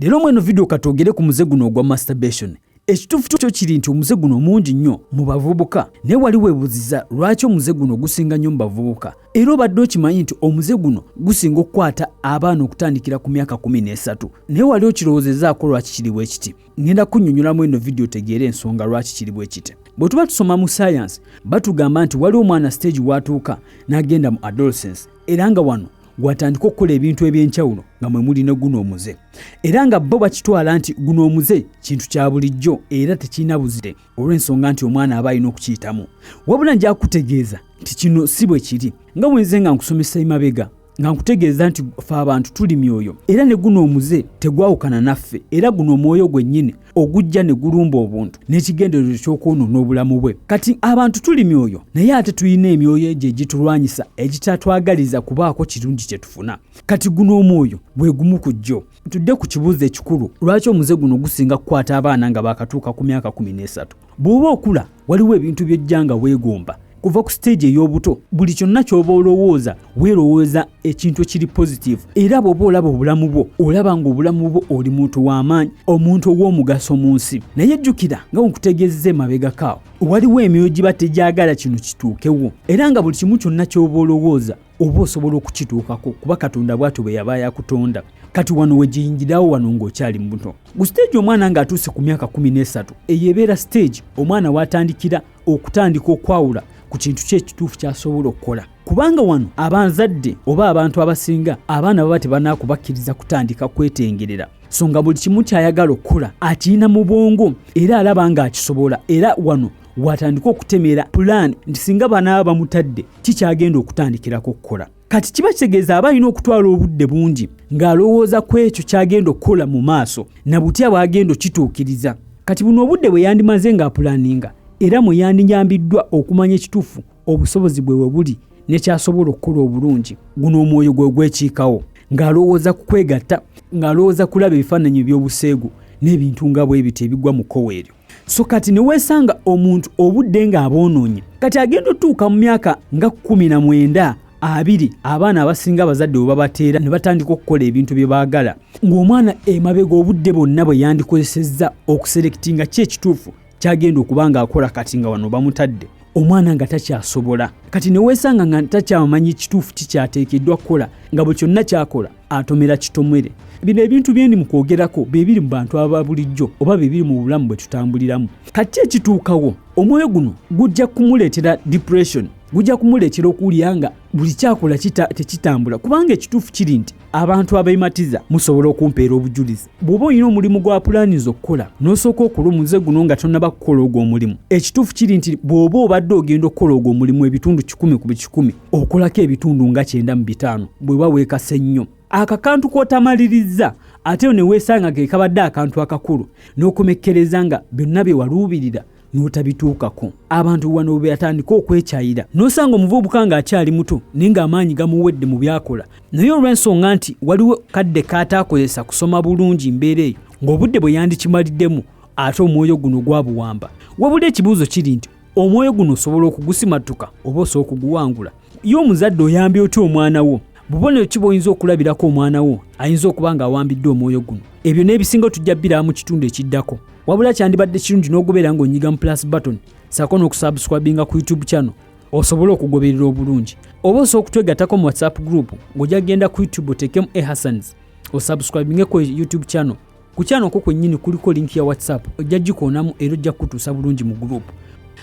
Leero mweno video katwogere ku muze guno ogwa masturbation. Ekituufu kyo kiri nti omuze guno mungi nnyo mu bavubuka naye wali weebuziza lwaki omuze guno gusinga nnyo mu bavubuka era obadde okimanyi nti omuze guno gusinga okukwata abaana okutandikira ku myaka kumi n'esatu naye wali okirowoozezaako lwaki kiri bwe kiti ngenda kunnyonnyolamu eno vidiyo otegeere ensonga lwaki kiri bwe kiti bwe tuba tusoma mu sayansi batugamba nti waliwo omwana siteegi w'atuuka n'agenda mu adolescence era nga wano gwatandika okukola ebintu eby'enkyawulo nga mwe muli ne guno omuze era nga bo bakitwala nti guno omuze kintu kya bulijjo era tekirina buzire olw'ensonga nti omwana aba alina okukiyitamu wabula nja kutegeeza nti kino si bwe kiri nga bwenze nga nkusomesa emabega nga nkutegeeza nti fe abantu tuli myoyo era ne guno omuze tegwawukana naffe era guno omwoyo gwennyini ogujja ne gulumba obuntu n'ekigendererwa ky'okwonoona obulamu bwe kati abantu tuli myoyo naye ate tulina emyoyo egyo egitulwanyisa egitatwagaliza kubaako kirungi kye tufuna kati guno omwoyo bwe gumu ku jjo tudde ku kibuuzo ekikulu lwaki omuze guno gusinga kukwata abaana nga baakatuuka ku myaka kumi n'esatu bw'oba okula waliwo ebintu by'ojja nga weegomba kuva ku siteegi ey'obuto buli kyonna ky'oba olowooza weerowooza ekintu ekiri positiivu era bw'oba olaba obulamu bwo olaba ng'obulamu bwo oli muntu w'amaanyi omuntu ow'omugaso mu nsi naye jjukira nga wenkutegeezeza emabegakaawo waliwo emyoyo giba tegyagala kino kituukewo era nga buli kimu kyonna ky'oba olowooza oba osobola okukituukako kuba katonda bwatyo bwe yaba yakutonda kati wano wegiyingirawo wano ng'okyali mubuto ku siteegi omwana ng'atuuse ku myaka kumi n'esatu eyo ebeera siteegi omwana w'atandikira okutandika okwawula ku kintu kye ekituufu kyasobola okukola kubanga wano abanzadde oba abantu abasinga abaana baba tebanakubakkiriza kutandika kwetengerera so nga buli kimu kyayagala okukola akirina mu bwongo era alaba ng'akisobola era wano watandika okutemeera pulaani nti singa banaaba bamutadde kikyagenda okutandikirako okukola kati kiba kitegeeza aba alina okutwala obudde bungi ng'alowooza ku ekyo ky'agenda okukola mu maaso na butya bw'agenda okituukiriza kati buno obudde bwe yandimaze ng'apulaninga era mwe yandinyambiddwa okumanya ekituufu obusobozi bwe webuli nekyasobola okukola obulungi guno omwoyo gwe gwekiikawo ng'alowooza ku kwegatta ng'alowooza kulaba ebifaananyi eby'obuseegu n'ebintu nga bwe bityo ebigwa mu kkowa eryo so kati ne weesanga omuntu obudde ng'aboonoonye kati agenda otuuka mu myaka nga kkumi na mwenda abiri abaana abasinga abazadde webabateera ne batandika okukola ebintu bye baagala ng'omwana emabega obudde bwonna bwe yandikozesezza okuserekitinga ki ekituufu kyagenda okuba ng'akola kati nga wano bamutadde omwana nga takyasobola kati neweesanga nga takyamanyi kituufu kikyateekeddwa kukola nga bwe kyonna kyakola atomera kitomwere bino ebintu byendi mu kwogerako bye biri mu bantu aba bulijjo oba bye biri mu bulamu bwe tutambuliramu kati ekituukawo omwoyo guno gujja kumuleetera depression gujja kumuleetera okuwulira nga buli kyakola tekitambula kubanga ekituufu kiri nti abantu abeematiza musobola okumpeera obujulizi bw'oba olina omulimu gwa pulaaniza okukola n'osooka okola omuze guno nga tonnaba kukola ogwo omulimu ekituufu kiri nti bw'oba obadde ogenda okukola ogwo omulimu ebitundu kikumi ku bikikumi okolako ebitundu nga kyenda mu bitaano bweba weekase nnyo akakantu k'otamalirizza ate yo ne weesanga ke kabadde akantu akakulu n'okomekkereza nga byonna bye waluubirira n'otabituukako abantu wano bwe yatandika okwekyayira n'osanga omuvubuka ng'akyali muto naye ng'amaanyi gamuwedde mu byakola naye olw'ensonga nti waliwo kadde kaataakozesa kusoma bulungi mbeera eyo ng'obudde bwe yandikimaliddemu ate omwoyo guno gwabuwamba wabula ekibuuzo kiri nti omwoyo guno osobola okugusimattuka oba osobola okuguwangula ye omuzadde oyambye otya omwana wo bubonero ki bwoyinza okulabirako omwana wo ayinza okuba ng'awambiddwa omwoyo guno ebyo n'ebisinga tujja biramu kitundu ekiddako wabula kyandibadde kirungi n'ogubeera ng'onyiga mu plus button saako n'okusubscribinga ku youtube channel osobole okugoberera obulungi oba osobola okutwegattako mu whatsapp group ng'ojja kugenda ku youtube oteekemu ehasans osubscribinge ku youtube channel ku channel ko kwennyini kuliko link ya whatsapp ojja gikoonamu era ojja kukutuusa bulungi mu group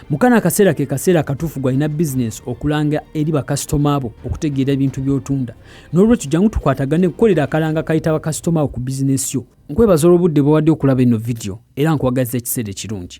mukana akaseera ke kaseera akatuufu gwalina bizinensi okulanga eri bakasitoma bo okutegeera ebintu by'otunda n'olwekyo jangu tukwatagane kukolera akalanga kayita bakasitoma bo ku bizinensi yo Nkwebaza olw'obudde bw'owadde okulaba eno vidiyo era nkwagaliza ekiseera ekirungi.